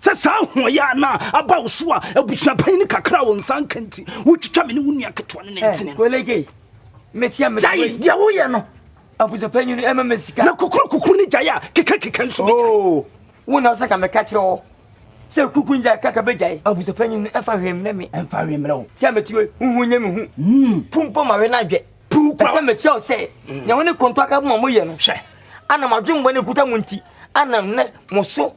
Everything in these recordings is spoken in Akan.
Sɛ saa ahoɔyaa no a aba wo so a abusua panyin no kakra a wo nsa nka nti, wotwitwa me ne wo nua ketewa no nantini no. Kolege, metia me. Gyae deɛ woyɛ no. Abusua panyin no ɛma me sika. Na kukuru kukuru ne gyae a keka keka nso bɛgyae. Oo, wo na ɔsɛ ka meka kyerɛ wo sɛ kukuru ne gyae kaka bɛgyae. Abusua panyin no ɛfa hwee mmerɛ me. Ɛmfa hwee mmerɛ wo. Tia me tue, huhu nyɛ me hu. Mm. Pu mpo ma we no adwɛ. Pu kura. Ɛsɛ mekyerɛ wo sɛ, mm. nea wo ne konto aka bɔ ma moyɛ no. Hwɛ. Ana madwemmɔ ne kuta mo nti, ana nnɛ mo so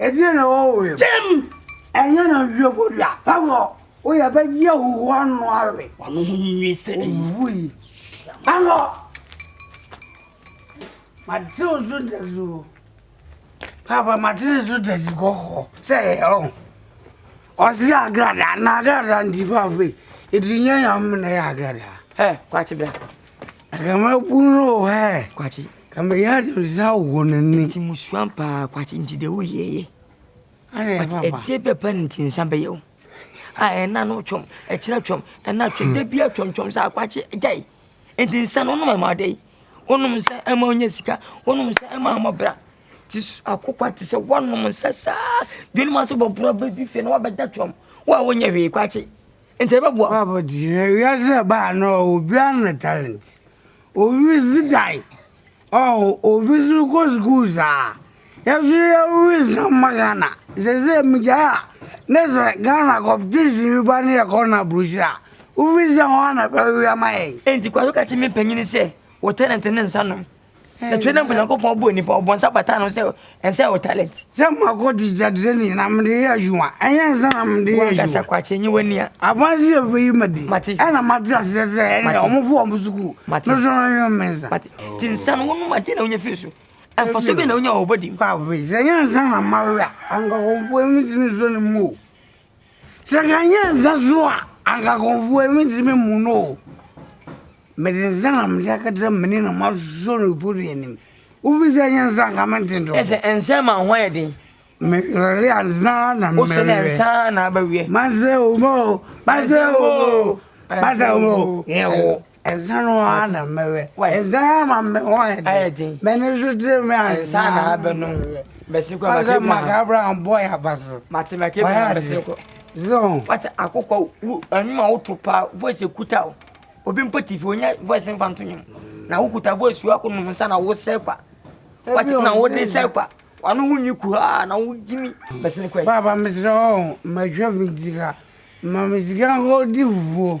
Ɛdeɛn na ɛwɔ wo yam? Tim! Ɛnyɛ na wie bɔ dua pa wɔ. Wo yɛ bɛ yi ahuhu ano awe. Wano ho nwi sɛ ɛyi. Owu yi. Ano. Ma te o zo da zi o. Papa ma te zo da zi gɔ hɔ. Sɛ yɛ ɔ. Ɔsi agrada na agrada ndi pa fe. Edri nyɛ yam na yɛ agrada. Ɛ kwa te bɛ. Anka mabunu no wɔ ha ɛ. Kwakye. Ka meyɛ ade nsa wɔ n'ani. Nti musua paa kwakye nti de woyɛ yɛ. Ana ɛfa ba. Ɛte bɛpa no nti nsa bɛyɛ wo. A ɛna no twɔm, ɛkyerɛ twɔm, ɛna twɔm, hmm. da bia twɔm twɔm sɛ akwakye gyae. Nti nsa no wonom ɛma ɔdɛ yi. Wonom nsa ɛma ɔnyɛ sika, wonom nsa ɛma ɔmɔ bra. Ti akokwa te sɛ wonom nsa saa. Dwene ma so bɔboro bɛdi fie na wabɛda twɔm. Wo a wonyɛ hwee kwakye. Enti ɛbɛboa wo. Bible te sɛ wiase a ɛbaa no ɔwɔ obiara ne ne talent. Obi si dan, ɔwɔ obi nso kɔ sukuu saa. Yɛn nso yɛwɔ nsɛm ma Ghana. Sɛsɛ migyae a ne sɛ Ghana competition bi ba ne yɛkɔ no aburokyiri a wofi sɛ hɔ na ɛbɛwe ama yɛn. Enti Kwaso ka kyerɛ me mpanyin sɛ wo talent ne nsa nom. na twerɛ na mpo nyankopɔn bɔɔ nipa ɔbɔ nsa bataa no sɛ ɛnsɛ wo talent sɛ mako de gyadere ni na mede yɛ adwuma ɛnyɛ nsa na mede yɛ adwuma wankasa kwakye nye w'ania abansi yɛ bɛyi ma di ɛna mate aseɛ sɛ ɛnɛ ɔmo fo ɔmo sukuu no so no yɛ me nsa ti nsa no wonom ade na wonya firi so ɛmfa so bi na wonya wɔ bɔdi mu sɛ nyɛ nsa na mawe a anka kɔmfoɔ ɛmi tumi so ne mu o Sɛ nka ɛnyɛ nsa so a, anka nkurɔfoɔ ani ntumi mmu no o. Mede nsa na mede akata m'ani na masɔ no pɔtɔ anim. Wofi sɛ ɛnyɛ nsa anka mente ntorɔ. Ɛsɛ nsa ma ho ayɛ den. Mekɔre ansa na mmerɛ. Wosɛ na nsa na abɛweɛ. Masɛ omo, masɛ omo, masɛ omo, yɛwo. Nsa no ara na mɛwɛ. Nsa no ama me ho ayɛ den. M'ani so tiri me a nsa na abɛ no. Bɛsi kɔ maka Abraham. Maka Abraham bɔ yɛ aba so. Mate maka Abraham bɛsi kɔ. Zon. Wata akokɔ wo anuma wo to paa voice ekuta o. Obi mpo TV onya voice nfa nto nyom. Na wo kuta voice wo akɔ nom nsa na wo sɛ kwa. Wate na wo de sɛ kwa. Wano ho nyi ku ha na wo gyimi bɛsi kɔ. Baba mesrɛ wo mɛhwɛ me sika. Ma me sika nkɔ di fufuo.